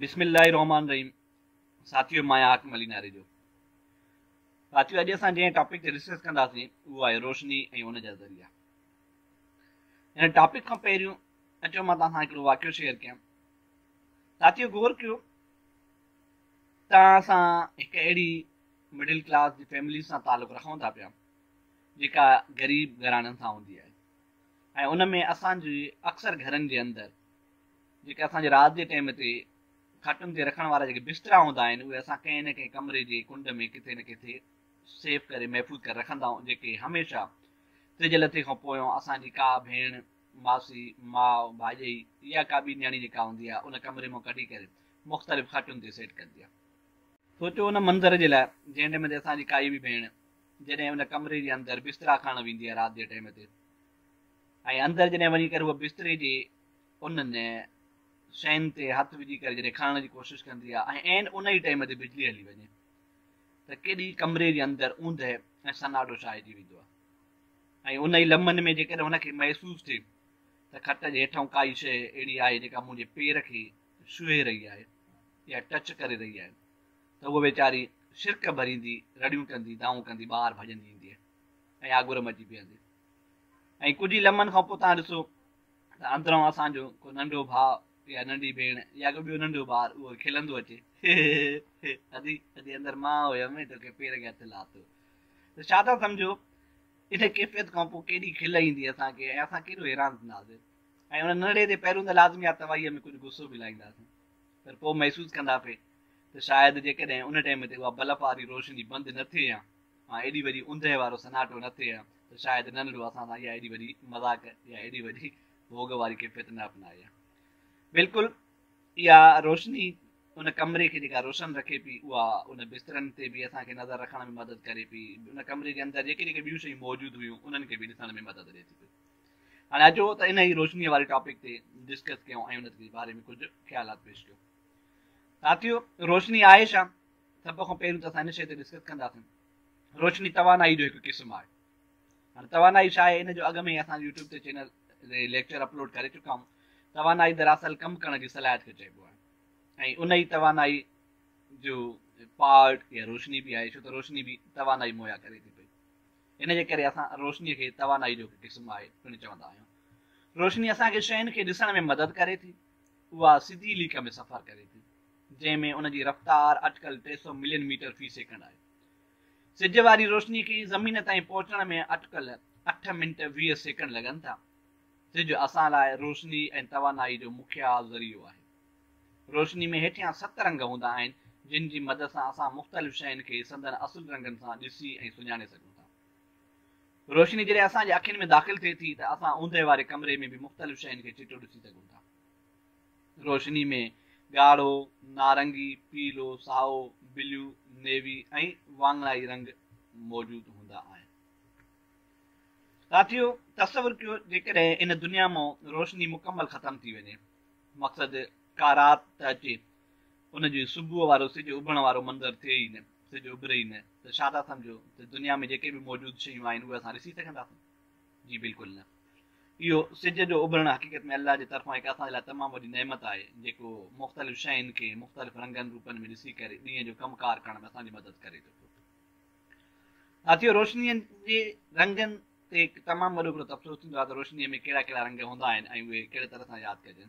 بسم الله الرحمن الرحيم ساٿيو مان آهيان حاڪم علي ناري جو ساٿيو اڄ اسان جنهن ٽاپڪ تي ڊسڪس ڪنداسين اهو آهي روشني ۽ ان جا ذريعا هن ٽاپڪ کان پهريون اچو مان توهان سان هڪڙو واقعو شيئر ڪيان ساٿيو غور ڪيو توهان سان هڪ اهڙي مڊل ڪلاس جي فيملي سان تعلق رکون ٿا پيا جيڪا غريب گهراڻن سان هوندي آهي ۽ ان ۾ اسان جي اڪثر گهرن جي اندر جيڪي اسان جي رات جي ٽيم تي کٽن تي رکڻ وارا جيڪي بسترا هوندا آهن اهي اسان ڪنهن نه ڪنهن ڪمري جي ڪنڊ ۾ ڪٿي نه ڪٿي سيف ڪري محفوظ ڪري رکندا آهيون جيڪي هميشه تج لٿي کان پويان اسان جي ڪا ڀيڻ ماسي ماء ڀاڄئي يا ڪا ٻي نياڻي جيڪا هوندي آهي ان ڪمري مان ڪڍي ڪري مختلف کٽن تي سيٽ ڪندي آهي سوچو ان منظر جي لاء جنهن ٽيم تي اسان جي ڪائي به ڀيڻ جڏهن ان ڪمري جي اندر بسترا کڻڻ ويندي آهي رات جي ٽيم تي ۽ اندر جڏهن وڃي ڪري هوء بستري جي انهن شين تي هٿ وجهي ڪري جڏهن کڻڻ جي ڪوشش ڪندي آهي ۽ عين ان ئي ٽيم تي بجلي هلي وڃي ته ڪيڏي ڪمري جي اندر اوندهه ۽ سناٽو ڇائجي ويندو آهي ۽ ان ئي لمحن ۾ جيڪڏهن هن کي محسوس ٿئي ته کٽ جي هيٺئون ڪائي شيء اهڙي آهي جيڪا منهنجي پير کي ڇهي رهي آهي يا ٽچ ڪري رهي آهي ته هوء ويچاري شرڪ ڀريندي رڙيون ڪندي دانهون ڪندي ٻاهر ڀڄندي ايندي ۽ آڳر م اچي بيهندي ۽ ڪجهه ئي لمحن کان پوء توهان ڏسو ته اندران اسان جو ڪو ننڍو ڀاء يا ننڍي ڀيڻ يا ڪو ٻيو ننڍو ٻار اهو کلندو اچي ادي ادي اندر مان هيم توکي پير کي هٿ لاتو ته ڇا ٿا سمجهو ان ڪيفيت کان پوء ڪيڏي کل ايندي اسان کي ۽ اسان ڪيڏو حيران ٿينداسين ۽ ان ننڍڙي تي پهريون ته لازمي آ توائيء ۾ ڪجهه غصو به لائينداسين پر پوء محسوس ڪندا پي ته شايد جيڪڏهن ان ٽيم تي اها بلف واري روشني بند نه ٿئي ها ۽ ايڏي وڏي اوندهه وارو سناٽو نه ٿئي ها ته شايد ننڍڙو اسان سان اها ايڏي وڏي مذاق يا ايڏي وڏي ڀوڳ واري ڪيفيت نه اپنائي ها. بلڪل اها روشني ان ڪمري کي جيڪا روشن رکي پئي اها ان بسترن تي به اسان کي نظر رکڻ ۾ مدد ڪري پئي، ان ڪمري جي اندر جيڪي جيڪي ٻيون شيون موجود هيون انهن کي به ڏسڻ ۾ مدد ڏئي ٿي پئي. هاڻي اچو ته انهيء روشنيء واري ٽاپڪ تي ڊسڪس ڪيون ۽ ان جي باري ۾ ڪجهه خيالات پيش ڪيون. ساٿيو روشني آهي ڇا؟ سڀ کان پهريون ته اسان ان شيء تي ڊسڪس ڪنداسين. روشني توانائي جو هڪ قسم آهي. هاڻي توانائي ڇا آهي ان جو اڳ ۾ ئي اسان يوٽيوب تي چينل تي ليڪچر اپلوڊ ڪري چڪا آهيون. توانائي دراصل ڪم ڪرڻ جي صلاحيت کي چئبو آهي ۽ ان ئي توانائي جو پارٽ يا روشني به آهي ڇو ته روشني به توانائي مهيا ڪري ٿي پئي. ان جي ڪري اسان روشني کي توانائي جو هڪ قسم آهي پڻ چوندا آهيون. روشني اسان کي شين کي ڏسڻ ۾ مدد ڪري ٿي. اها سڌي ليڪ ۾ سفر ڪري ٿي، جنهن ۾ ان جي رفتار اٽڪل ٽي سؤ ملين ميٽر في سيڪنڊ آهي. سج واري روشني کي زمين تائين پهچڻ ۾ اٽڪل اٺ منٽ ويهه سيڪنڊ لڳن ٿا. سج اسان لاء روشني ۽ توانائي جو مکيه ذريعو آهي. روشني ۾ هيٺيان ست رنگ هوندا آهن، جن جي مدد سان اسان مختلف شين کي سندن اصل رنگن سان ڏسي ۽ سڃاڻي سگهون ٿا. روشني جڏهن اسان جي اکين ۾ داخل ٿئي ٿي ته اسان اوندهه واري ڪمري ۾ به مختلف شين کي چٽو ڏسي سگهون ٿا. روشني ۾ ڳاڙهو، نارنگي، پيلو، سائو، بليو، نيوي ۽ واڱڻائي رنگ موجود هوندا آهن. ساٿيو! تصور ڪيو جيڪڏهن ان دنيا مان روشني مڪمل ختم ٿي وڃي، مقصد ڪا رات ته اچي ان جي صبح وارو سج اڀرڻ وارو منظر ٿئي ئي نه، سي جو اڀري ئي نه ته ڇا ٿا سمجهو ته دنيا ۾ جيڪي به موجود شيون آهن اهي اسان ڏسي سگهنداسون؟ جي بلڪل نه. اهو سج جو اڀرڻ حقيقت ۾ الله جي طرفان هڪ اسان جي لاء تمام وڏي نعمت آهي جيڪو مختلف شين کي مختلف رنگن روپن ۾ ڏسي ڪري ڏينهن جو ڪم ڪار ڪرڻ ۾ اسان جي مدد ڪري ٿو پيو. ساٿيو روشني جي رنگن تي هڪ تمام وڏو هڪڙو تبصرو ٿيندو آهي ته روشني ۾ ڪهڙا ڪهڙا رنگ هوندا آهن ۽ اهي ڪهڙي طرح سان ياد ڪجن.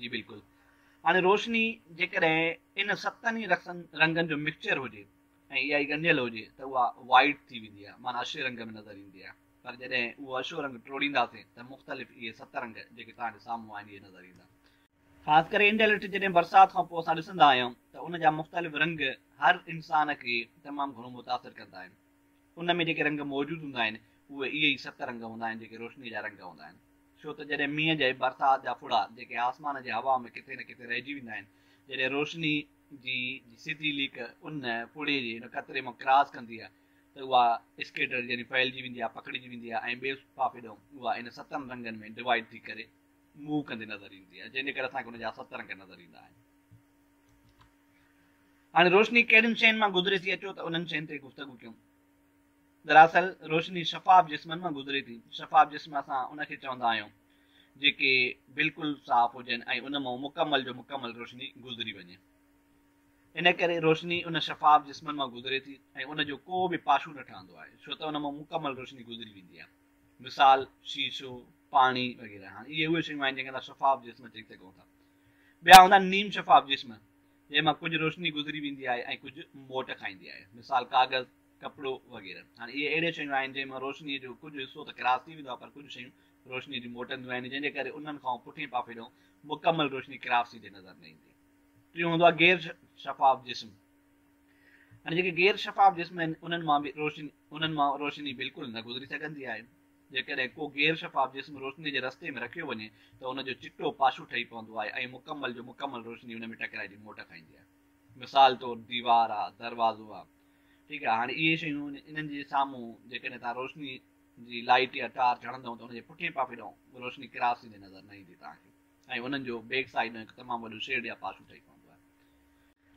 جي بلڪل. هاڻي روشني جيڪڏهن ان ستن ئي رنگن جو مڪسچر هجي ۽ اها ئي ڳنڍيل هجي ته اها وائيٽ ٿي ويندي آهي معنيٰ اشي رنگ ۾ نظر ايندي آهي پر جڏهن اهو اشو رنگ ٽوڙينداسين ته مختلف اهي ست رنگ جيڪي توهان جي سامهون آهن اهي نظر ايندا. خاص ڪري انڊيلٺ جڏهن برسات کان پوء اسان ڏسندا آهيون ته ان جا مختلف رنگ هر انسان کي تمام گهڻو متاثر ڪندا آهن. ان ۾ جيڪي رنگ موجود هوندا آهن، اهي اهي ئي ست رنگ هوندا آهن، جيڪي روشنيء جا رنگ هوندا آهن. ڇو ته جڏهن مينهن جي برسات جا ڦڙا، جيڪي آسمان جي هوا ۾ ڪٿي نه ڪٿي رهجي ويندا آهن، جڏهن روشنيء جي جي سڌي ليڪ ان ڦڙي جي ان قطري مان ڪراس ڪندي آهي ته اها اسڪيٽرڊ يعني ڦهلجي ويندي آهي، پکڙجي ويندي آهي ۽ ٻئي پاسي ڏانهن اها ان ستن رنگن ۾ ڊوائيڊ ٿي ڪري موو ڪندي نظر ايندي آهي، جنهن جي ڪري اسان کي ان جا ست رنگ نظر ايندا آهن. هاڻي روشني ڪهڙين شين مان گذري ٿي اچو ته انهن شين تي گفتگو ڪيون. دراصل روشني شفاف جسمن مان گذري ٿي. شفاف جسم اسان ان کي چوندا آهيون جيڪي بلڪل صاف هجن ۽ ان مان مڪمل جو مڪمل روشني گذري وڃي. ان ڪري روشني ان شفاف جسمن مان گذري ٿي ۽ ان جو ڪو به پاشو نه ٺهندو آهي ڇو ته ان مان مڪمل روشني گذري ويندي آهي. مثال، شيشو، پاڻي وغيره. هاڻي اهي اهي شيون آهن جن کي اسان شفاف جسم چئي سگهون ٿا. ٻيا هوندا آهن نيم شفاف جسم، جنهن مان ڪجهه روشني گذري ويندي آهي ۽ ڪجهه موٽ کائيندي آهي، مثال ڪاغذ، ڪپڙو وغيره. هاڻ اهي اهڙيون شيون آهن، جنهن مان روشنيء جو ڪجهه حصو ته ڪراس ٿي ويندو آهي، پر ڪجهه شيون روشنيء جون موٽنديون آهن، جنهن جي ڪري انهن کانئون پٺئين پاسي ڏانهن مڪمل روشني ڪراس ٿيندي نظر نه ايندي. ٽيون هوندو آهي غير شفاف جسم. هاڻي جيڪي غير شفاف جسم آهن، انهن مان به روشني انهن مان روشني بلڪل نه گذري سگهندي آهي. جيڪڏهن ڪو غير شفاف جسم روشني جي رستي ۾ رکيو وڃي ته ان جو چٽو پاشو ٺهي پوندو آهي ۽ مڪمل جو مڪمل روشني ان ۾ ٽڪرائجي موٽ کائيندي آهي. مثال طور ديوار آ، دروازو آ. ٺيڪ آهي هاڻي اهي شيون انهن جي سامهون جيڪڏهن توهان روشني جي لائٽ يا ٽارچ هڻندئون ته ان جي پٺئين پاپي ڏانهن روشني ڪراس ٿيندي نظر نه ايندي توهان کي ۽ انهن جو بيڪ سائيڊ ڏانهن هڪ تمام وڏو شيڊ يا پاشو ٺهي پوندو آهي.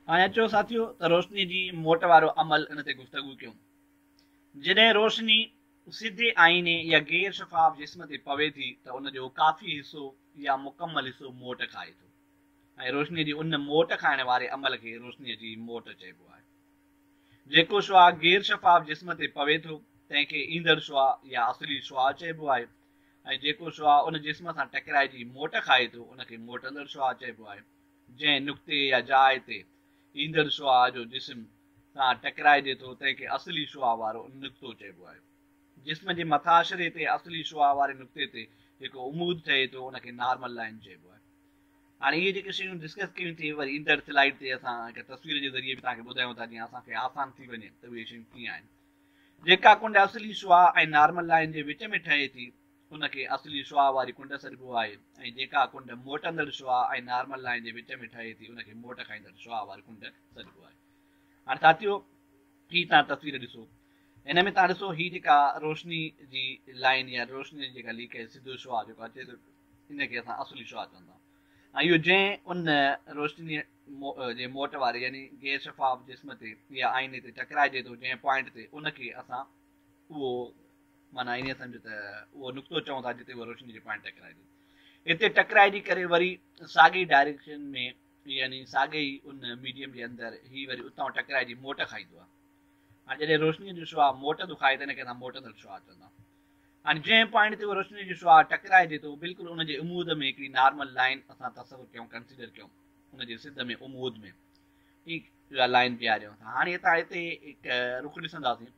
هاڻي اچو ساٿيو ته روشني جي موٽ وارو عمل ان تي گفتگو ڪيون. جڏهن روشني سڌي آئيني يا غير شفاف جسم تي پوي ٿي ته ان جو ڪافي حصو يا مڪمل حصو موٽ کائي ٿو ۽ روشني جي ان موٽ کائڻ واري عمل کي روشني جي موٽ چئبو آهي. جيڪو شعاع غير شفاف جسم تي پوي ٿو تنهن کي ايندڙ شعاع يا اصلي شعاع چئبو آهي ۽ جيڪو شعاع ان جسم سان ٽڪرائجي موٽ کائي ٿو ان کي موٽندڙ شعاع چئبو آهي جنهن نقطي يا جاء تي ايندڙ شعاع جو جسم سان ٽڪرائجي ٿو تنهن کي اصلي شعاع وارو نقطو چئبو آهي. جسم جي مٿاڇري تي اصلي شعاع واري نقطي تي جيڪو عمود ٺهي ٿو ان کي نارمل لائين چئبو آهي. هاڻي اهي جيڪي شيون ڊسڪس ڪيون ٿي وري ايندڙ سلائيڊ تي اسان هڪ تصوير جي ذريعي به توهان کي ٻڌايون ٿا جيئن اسان کي آسان ٿي وڃي ته اهي شيون ڪيئن آهن. جيڪا ڪنڊ اصلي شعاع ۽ نارمل لائين جي وچ ۾ ٺهي ٿي. ان کي اصلي شعاع واري ڪنڊ سڏبو آهي ۽ جيڪا ڪنڊ موٽندڙ شعاع ۽ نارمل لائين جي وچ ۾ ٺهي ٿي ان کي موٽ کائيندڙ شعاع واري ڪنڊ سڏبو آهي. هاڻي ساٿيو هي تان تصوير ڏسو ان ۾ تان ڏسو هي جيڪا روشني جي لائين يا روشني جي جيڪا ليڪيج سڌو شعاع جيڪو اچي ٿو ان کي اسان اصلي شعاع چوندا آهيون ۽ اهو جنهن ان روشني جي موٽ واري يعني غير شفاف جسم تي يا آئيني تي ٽڪرائجي ٿو جنهن پوائنٽ تي ان کي اسان اهو معنيٰ انهيء سمجهه ته اهو نقطو چئون ٿا جتي اهو روشني جو پوائنٽ ٽڪرائجي. هتي ٽڪرائجي ڪري وري ساڳئي ڊائريڪشن ۾ يعني ساڳئي ئي ان ميڊيم جي اندر هي وري اتان ٽڪرائجي موٽ کائيندو آهي. هاڻي جڏهن روشنيء جو شعاع موٽ ٿو کائي ته ان کي اسان موٽندڙ شعاع چوندا آهيون. هاڻي جنهن پوائنٽ تي اهو روشنيء جو شعاع ٽڪرائجي ٿو بلڪل ان جي عمود ۾ هڪڙي نارمل لائين اسان تصور ڪيون ڪنسيڊر ڪيون ان جي سڌ ۾ عمود ۾ ٺيڪ اها لائين بيهاريون ٿا. هاڻي هتان هتي هڪ رخ ڏسنداسين.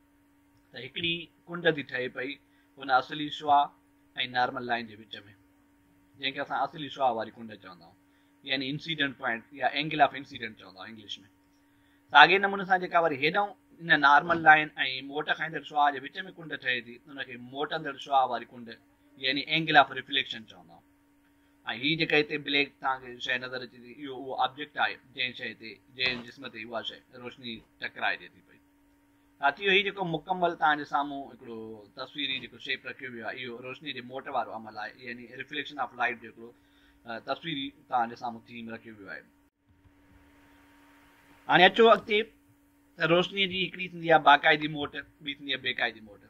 ته هڪڙي ڪنڊ ٿي ٺهي پئي هن اصلي شعاع ۽ نارمل لائين جي وچ ۾، جنهن کي اسان اصلي شعاع واري ڪنڊ چوندا آهيون يعني انسيڊنٽ پوائنٽ يا اينگل آف انسيڊنٽ چوندا آهيون انگلش ۾. ساڳئي نموني سان جيڪا وري هيڏانهون ان نارمل لائين ۽ موٽ کائيندڙ شعاع جي وچ ۾ ڪنڊ ٺهي ٿي ان کي موٽندڙ شعاع واري ڪنڊ يعني اينگل آف ريفليڪشن چوندا آهيون. ۽ هي جيڪا هتي بليڪ توهان کي شيء نظر اچي ٿي اهو اهو آبجيڪٽ آهي جنهن شيء تي جنهن جسم تي اها شيء روشني ٽڪرائجي ٿي پئي. ساٿيو هي جيڪو مڪمل توهان جي سامهون هڪڙو تصويري جيڪو شيپ رکيو ويو آهي اهو روشني جي موٽ وارو عمل آهي يعني ريفليڪشن آف لائيٽ جو هڪڙو تصويري توهان جي سامهون ٿيم رکيو ويو آهي. هاڻي اچو اڳتي ته روشني جي هڪڙي ٿيندي آهي باقاعدي موٽ ٻي ٿيندي آهي بيقاعدي موٽ.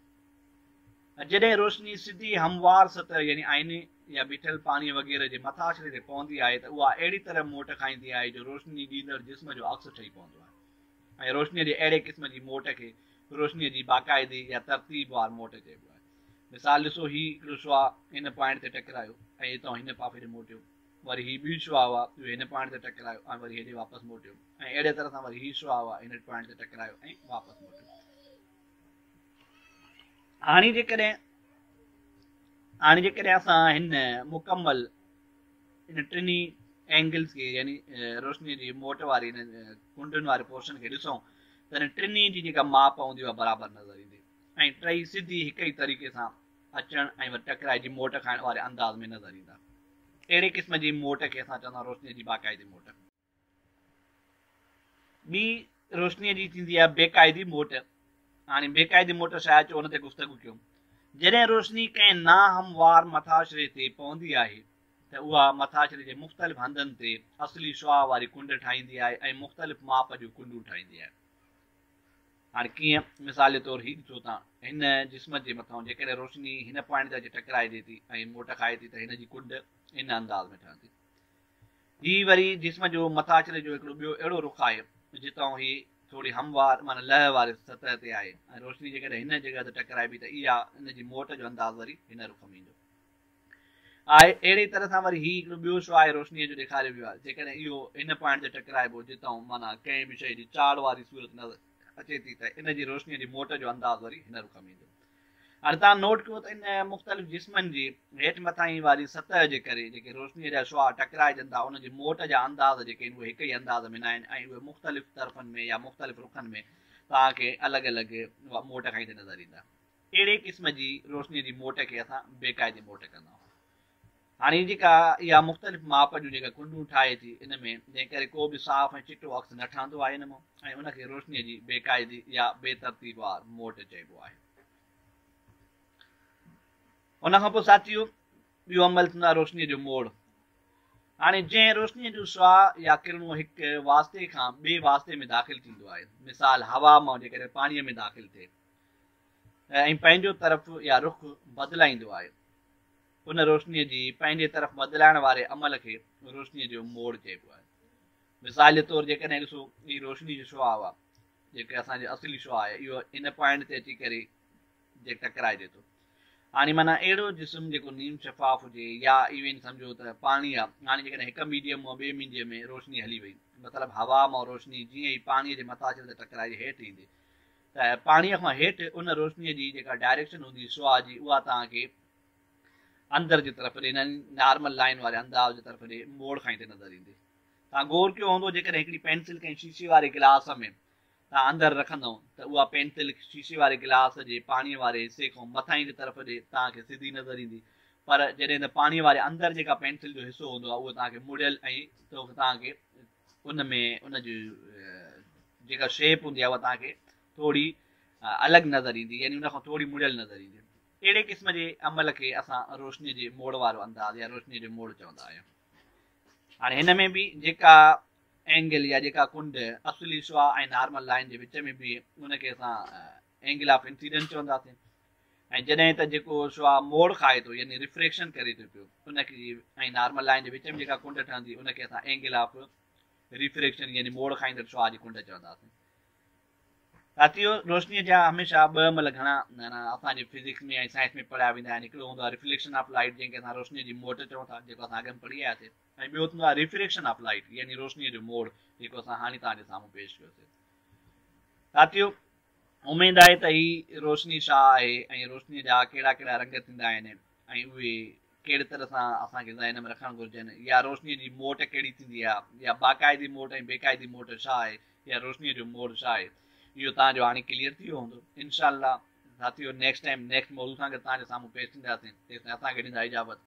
جڏهن روشني سڌي هموار سطح يعني آئيني يا بيٺل پاڻي وغيره جي مٿاڇري تي پوندي آهي ته اها اهڙي طرح موٽ کائيندي آهي جو روشني ڏيندڙ جسم جو عڪس ٺهي پوندو آهي ۽ روشنيء جي اهڙي قسم جي موٽ کي روشنيء جي باقاعدي يا ترتيب وار موٽ چئبو آهي. مثال ڏسو هي هڪڙو شعاع هن پوائنٽ تي ٽڪرايو ۽ اتان هن پاسي ڏي موٽيو، وري هي ٻيو شعاع هو اهو هن پوائنٽ تي ٽڪرايو ۽ وري هيڏي واپس موٽيو ۽ اهڙيء طرح سان وري هي شعاع هو اهو هن پوائنٽ تي ٽڪرايو ۽ واپس موٽيو. هاڻي جيڪڏهن هاڻي جيڪڏهن اسان هن مڪمل انهن ٽنهي اينگلز کي يعني روشني جي موٽ واري ان ڪنڊن واري پورشن کي ڏسون ته انهن ٽنهي جي جيڪا ماپ هوندي اها برابر نظر ايندي ۽ ٽئي سڌي هڪ ئي طريقي سان اچڻ ۽ وري ٽڪرائجي موٽ کائڻ واري انداز ۾ نظر ايندا اهڙي قسم جي موٽ کي اسان چوندا آهيون روشني جي باقاعدي موٽ ٻي روشنيء جي ٿيندي آهي بيقاعدي موٽ. هاڻي بيقاعدي موٽ ڇا اچو ان تي گفتگو ڪيون. جڏهن روشني ڪنهن ناهموار مٿاڇري تي پوندي آهي ته اها مٿاڇري جي مختلف هنڌن تي اصلي شعاع واري ڪنڊ ٺاهيندي آهي ۽ مختلف ماپ جون ڪنڊون ٺاهيندي آهي. هاڻي ڪيئن؟ مثال جي طور هي ڏسو ته هن جسم جي مٿان جيڪڏهن روشني هن پوائنٽ تي اچي ٽڪرائجي ٿي ۽ موٽ کائي ٿي ته هن جي ڪنڊ ان انداز ۾ ٺهندي. هي وري جسم جو مٿاڇري جو هڪڙو ٻيو اهڙو رخ آهي، جتئون هي ٿوري هموار معنيٰ لئه واري سطح تي آهي ۽ روشني جيڪڏهن هن جڳهه تي ٽڪرائبي ته اها ان جي موٽ جو انداز وري هن رخ ۾ ايندو آهي. اهڙي طرح سان وري هي هڪڙو ٻيو شعاع روشنيء جو ڏيکاريو ويو آهي، جيڪڏهن اهو هن پوائنٽ تي ٽڪرائبو جتئون معنيٰ ڪنهن به شيء جي چاڙهه واري صورت نظر اچي ٿي ته ان جي روشنيء جي موٽ جو انداز وري هن رخ ۾ ايندو. اردان نوٽ ڪيو ته ان مختلف جسمن جي هيٺ مٿانهين واري سطح جي ڪري جيڪي روشنيء جا شعاع ٽڪرائجن ٿا انهن جي موٽ جا انداز جيڪي آهن اهي هڪ ئي انداز ۾ ناهن ۽ اهي مختلف طرفن ۾ يا مختلف رخن ۾ توهان کي الڳ الڳ موٽ کائيندي نظر ايندا. اهڙي قسم جي روشنيء جي موٽ کي اسان بي قاعدي موٽ ڪندائون. هاڻي هي جيڪا اها مختلف ماپ جون جيڪا ڪنڊون ٺاهي ٿي ان ۾ جنهن ڪري ڪو به صاف ۽ چٽو عڪس نه ٺهندو آهي ان مان ۽ ان کي روشنيء جي بي قاعدي يا بي ترتيب وار موٽ چئبو آهي. ان کان پوء ساٿيو ٻيو عمل ٿيندو آهي روشنيء جو موڙ. هاڻي جنهن روشنيء جون شعاع يا ڪرڻون هڪ واسطي کان ٻئي واسطي ۾ داخل ٿيندو آهي مثال هوا مان جيڪڏهن پاڻيء ۾ داخل ٿئي ۽ پنهنجو طرف يا رخ بدلائيندو آهي ان روشنيء جي پنهنجي طرف بدلائڻ واري عمل کي روشنيء جو موڙ چئبو آهي. مثال جي طور جيڪڏهن ڏسو هي روشني جو شعاع آهي، جيڪي اسان جي اصلي شعاع آهي، اهو ان پوائنٽ تي اچي ڪري جي ٽڪرائجي ٿو. هاڻي معنيٰ اهڙو جسم جيڪو نيم شفاف هجي يا ايون سمجهو ته پاڻي آهي، هاڻي جيڪڏهن هڪ ميڊيم مان ٻئي مينجي ۾ روشني هلي وئي، مطلب هوا مان روشني جيئن ئي پاڻيء جي مٿاڇري تي ٽڪرائجي هيٺ ايندي ته پاڻيء کان هيٺ ان روشنيء جي جيڪا ڊائريڪشن هوندي شعاع جي اها توهان کي اندر جي طرف ڏي يعني نارمل لائين واري انداز جي طرف ڏي موڙ کان ئي تي نظر ايندي. توهان غور ڪيو هوندو جيڪڏهن هڪڙي پينسل ڪنهن شيشي واري گلاس ۾ توهان اندر رکندئو ته اها پينسل شيشي واري گلاس جي پاڻيء واري حصي کان مٿانهين جي طرف ڏي توهان کي سڌي نظر ايندي پر جڏهن ته پاڻيء واري اندر جيڪا پينسل جو حصو هوندو آهي اهو توهان کي مڙيل ۽ توهان کي ان ۾ ان جي جيڪا شيپ هوندي آهي اها توهان کي ٿوري الڳ نظر ايندي يعني ان کان ٿوري مڙيل نظر ايندي. اهڙي قسم جي عمل کي اسان روشني جي موڙ وارو انداز يا روشني جو موڙ چوندا آهيون. هاڻي هن ۾ به جيڪا اينگل يا جيڪا ڪنڊ اصلي شعاع ۽ نارمل لائين جي وچ ۾ بيهي ان کي اسان اينگل آف انسيڊنس چونداسين ۽ جڏهن ته جيڪو شعاع موڙ کائي ٿو يعني ريفريڪشن ڪري ٿو پيو ان کي ۽ نارمل لائين جي وچ ۾ جيڪا ڪنڊ ٺهندي ان کي اسان اينگل آف ريفريڪشن يعني موڙ کائيندڙ شعاع جي ڪنڊ چونداسين ساتھيو روشني جا هميشه ٻه عمل گهڻا اسان جي فزڪس ۾ ۽ سائنس ۾ پڙهيا ويندا آهن هڪڙو هوندو آهي ريفليڪشن آف لائٽ جنهن کي اسان روشني جي موٽ چون ٿا جيڪو اسان اڳ ۾ پڙهي آياسين ۽ ٻيو ٿيندو آهي ريفريڪشن آف لائٽ يعني روشني جو موڙ جيڪو اسان هاڻي توهان جي سامهون پيش ڪيوسي ساتھيو اميد آهي ته هي روشني ڇا آهي ۽ روشنيء جا ڪهڙا ڪهڙا رنگ ٿيندا آهن ۽ اهي ڪهڙي طرح سان اسان کي ذهن ۾ رکڻ گهرجن يا روشنيء جي موٽ ڪهڙي ٿيندي آهي يا باقاعدي موٽ ۽ بيقاعدي موٽ ڇا آهي يا روشنيء جو موڊ ڇا آهي اهو توهان جو هاڻي ڪليئر ٿي ويو هوندو انشاء الله ساٿيو نيڪسٽ ٽائيم نيڪسٽ موضوع سان گڏ توهان جي سامهون پيش ٿينداسين تيستائين اسان کي ڏيندا اجازت.